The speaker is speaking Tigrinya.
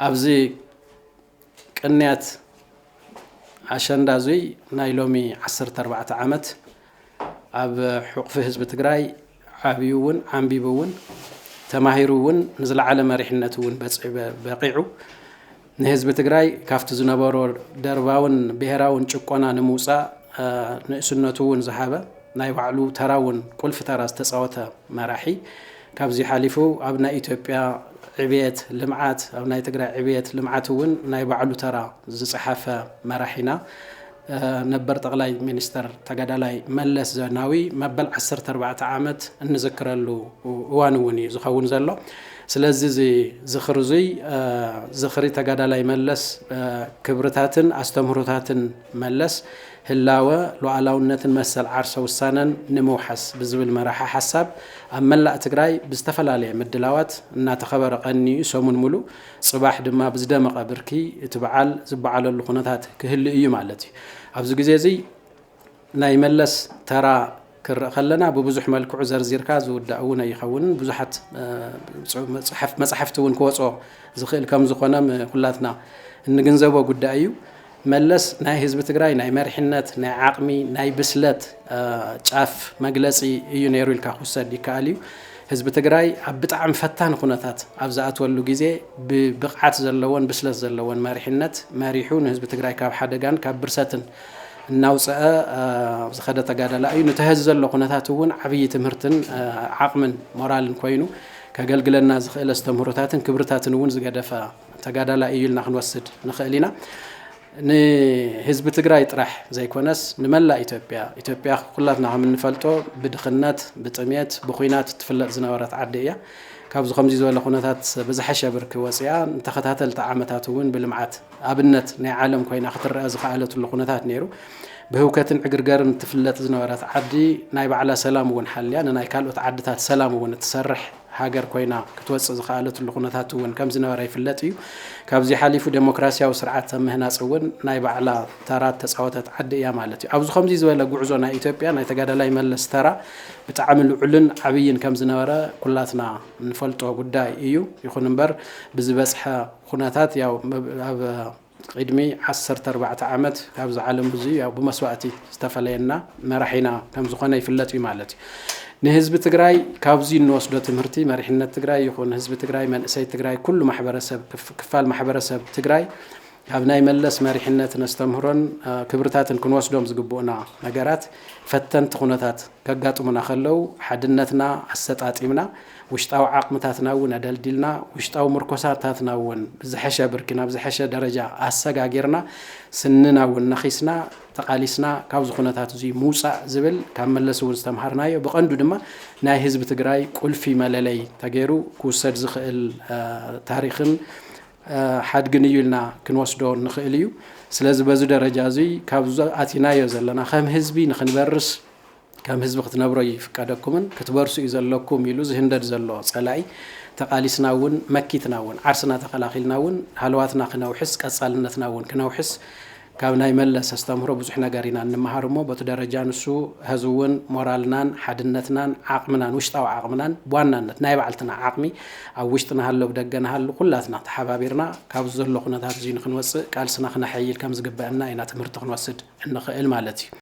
ኣብዚ ቅንያት ኣሸንዳ እዙይ ናይ ሎሚ ዓሰርተ ኣርባዕተ ዓመት ኣብ ሕቑፊ ህዝቢ ትግራይ ዓብዩ እውን ዓምቢቡ እውን ተማሂሩ እውን ንዝለዓለ መሪሕነት እውን በቂዑ ንህዝቢ ትግራይ ካብቲ ዝነበሮ ደርባውን ብሄራውን ጭቆና ንምውፃእ ንእስነቱ እውን ዝሃበ ናይ ባዕሉ ተራ እውን ቁልፊ ተራ ዝተፃወተ መራሒ ካብዚ ሓሊፉ ኣብ ናይ ኢትዮጵያ ዕብየት ልምዓት ኣብ ናይ ትግራይ ዕብየት ልምዓት እውን ናይ ባዕሉ ተራ ዝፀሓፈ መራሒና ነበር ጠቕላይ ሚኒስተር ተጋዳላይ መለስ ዘናዊ መበል 14 ዓመት እንዝክረሉ እዋን እውን እዩ ዝኸውን ዘሎ ስለዚ እዚ ዝኽሪ እዙይ ዝኽሪ ተጋዳላይ መለስ ክብርታትን ኣስተምህሮታትን መለስ ህላወ፣ ሉኣላውነትን መሰል ዓርሰ ውሳነን ንምውሓስ ብዝብል መራሒ ሓሳብ ኣብ መላእ ትግራይ ብዝተፈላለየ ምድላዋት እናተኸበረ ቀኒዩ ሰሙን ሙሉእ ፅባሕ ድማ ብዝደመቐ ብርኪ እቲ በዓል ዝበዓለሉ ኩነታት ክህሉ እዩ ማለት እዩ። ኣብዚ ግዜ እዙይ ናይ መለስ ተራ ክርእ ከለና ብብዙሕ መልክዑ ዘርዚርካ ዝውዳእ እውን ኣይኸውንን ብዙሓት መፃሕፍቲ እውን ክወፅኦ ዝኽእል ከምዝኾነ ኩላትና እንግንዘቦ ጉዳይ እዩ። መለስ ናይ ህዝቢ ትግራይ ናይ መሪሕነት ናይ ዓቕሚ ናይ ብስለት ጫፍ መግለፂ እዩ ነይሩ ኢልካ ክውሰድ ይከኣል እዩ። ህዝቢ ትግራይ ኣብ ብጣዕሚ ፈታኒ ኩነታት ኣብ ዝኣትወሉ ግዜ ብብቕዓት ዘለዎን ብስለት ዘለዎን መሪሕነት መሪሑ ንህዝቢ ትግራይ ካብ ሓደጋን ካብ ብርሰትን እናውፀኣ ዝኸደ ተጋዳላይ እዩ። ነቲ ሀዚ ዘሎ ኩነታት እውን ዓብዪ ትምህርትን ዓቕምን ሞራልን ኮይኑ ከገልግለና ዝኽእል ኣስተምህሮታትን ክብርታትን እውን ዝገደፈ ተጋዳላይ እዩ ኢልና ክንወስድ ንኽእል ኢና። ንህዝቢ ትግራይ ጥራሕ ዘይኮነስ ንመላእ ኢትዮጵያ ኢትዮጵያ ኩላትና ከም እንፈልጦ ብድኽነት ብጥሜት ብኩናት እትፍለጥ ዝነበረት ዓዲ እያ ካብዚ ከምዚ ዝበለ ኩነታት ብዝሐሸ ብርኪ ወፂኣ ንተኸታተልቲ ዓመታት እውን ብልምዓት ኣብነት ናይ ዓለም ኮይና ክትረኣ ዝኸኣለትሉ ኩነታት ነይሩ። ብህውከትን ዕግርገርን እትፍለጥ ዝነበረት ዓዲ ናይ ባዕላ ሰላም እውን ሓልያ ንናይ ካልኦት ዓድታት ሰላም እውን እትሰርሕ ሃገር ኮይና ክትወፅእ ዝኸኣለትሉ ኩነታት እውን ከምዝነበረ ይፍለጥ እዩ። ካብዚ ሓሊፉ ዴሞክራሲያዊ ስርዓት ኣብ ምህናፅ እውን ናይ ባዕላ ተራ እተፃወተት ዓዲ እያ ማለት እዩ። ኣብዚ ከምዚ ዝበለ ጉዕዞ ናይ ኢትዮጵያ ናይ ተጋዳላይ መለስ ተራ ብጣዕሚ ልዑልን ዓብይን ከምዝነበረ ኩላትና እንፈልጦ ጉዳይ እዩ። ይኹን እምበር ብዝበፅሐ ኹነታት ያው ኣብ ቒድሚ ዓሰርተ ኣርባዕተ ዓመት ካብዚ ዓለም ብዙይ ያው ብመስዋእቲ ዝተፈለየና መራሒና ከምዝኾነ ይፍለጥ እዩ ማለት እዩ። ንህዝቢ ትግራይ ካብዙይ እንወስዶ ትምህርቲ መሪሕነት ትግራይ ይኹን ህዝቢ ትግራይ መንእሰይ ትግራይ ኩሉ ማሕበረሰብ ክፋል ማሕበረሰብ ትግራይ ካብ ናይ መለስ መሪሕነት ነስተምህሮን ክብርታትን ክንወስዶም ዝግብኡና ነገራት ፈተንቲ ኹነታት ከጋጥሙና ከለው ሓድነትና ኣሰጣጢምና ውሽጣዊ ዓቕምታትና እውን ኣደልዲልና፣ ውሽጣዊ ምርኮሳታትና እውን ብዝሐሸ ብርኪ ናብ ዝሐሸ ደረጃ ኣሰጋጊርና፣ ስንና እውን ነኺስና ተቓሊስና ካብዚ ኩነታት እዙይ ምውፃእ ዝብል ካብ መለስ እውን ዝተምሃርናዮ ብቐንዱ ድማ ናይ ህዝቢ ትግራይ ቁልፊ መለለይ ተገይሩ ክውሰድ ዝኽእል ታሪኽን ሓድግን እዩ ኢልና ክንወስዶ ንኽእል እዩ። ስለዚ በዚ ደረጃ እዙይ ካብዚ ኣቲናዮ ዘለና ከም ህዝቢ ንክንበርስ ከም ህዝቢ ክትነብሩ ኣይፍቀደኩምን ክትበርሱ እዩ ዘለኩም ኢሉ ዝህንደድ ዘሎ ፀላኢ ተቓሊስና እውን መኪትና እውን ዓርስና ተኸላኺልና እውን ሃለዋትና ክነውሕስ ቀፃልነትና እውን ክነውሕስ ካብ ናይ መለስ ኣስተምህሮ ብዙሕ ነገር ኢና እንመሃር እሞ በቲ ደረጃ ንሱ ሀዚ እውን ሞራልናን ሓድነትናን ዓቕምናን ውሽጣዊ ዓቕምናን ብዋናነት ናይ ባዕልትና ዓቕሚ ኣብ ውሽጢ ንሃሎ ብደገ ንሃሉ ኩላትና ተሓባቢርና ካብዚ ዘሎ ኩነታት እዚ ንክንወፅእ ቃልስና ክነሐይል ከም ዝግበአና ኢና ትምህርቲ ክንወስድ እንኽእል ማለት እዩ።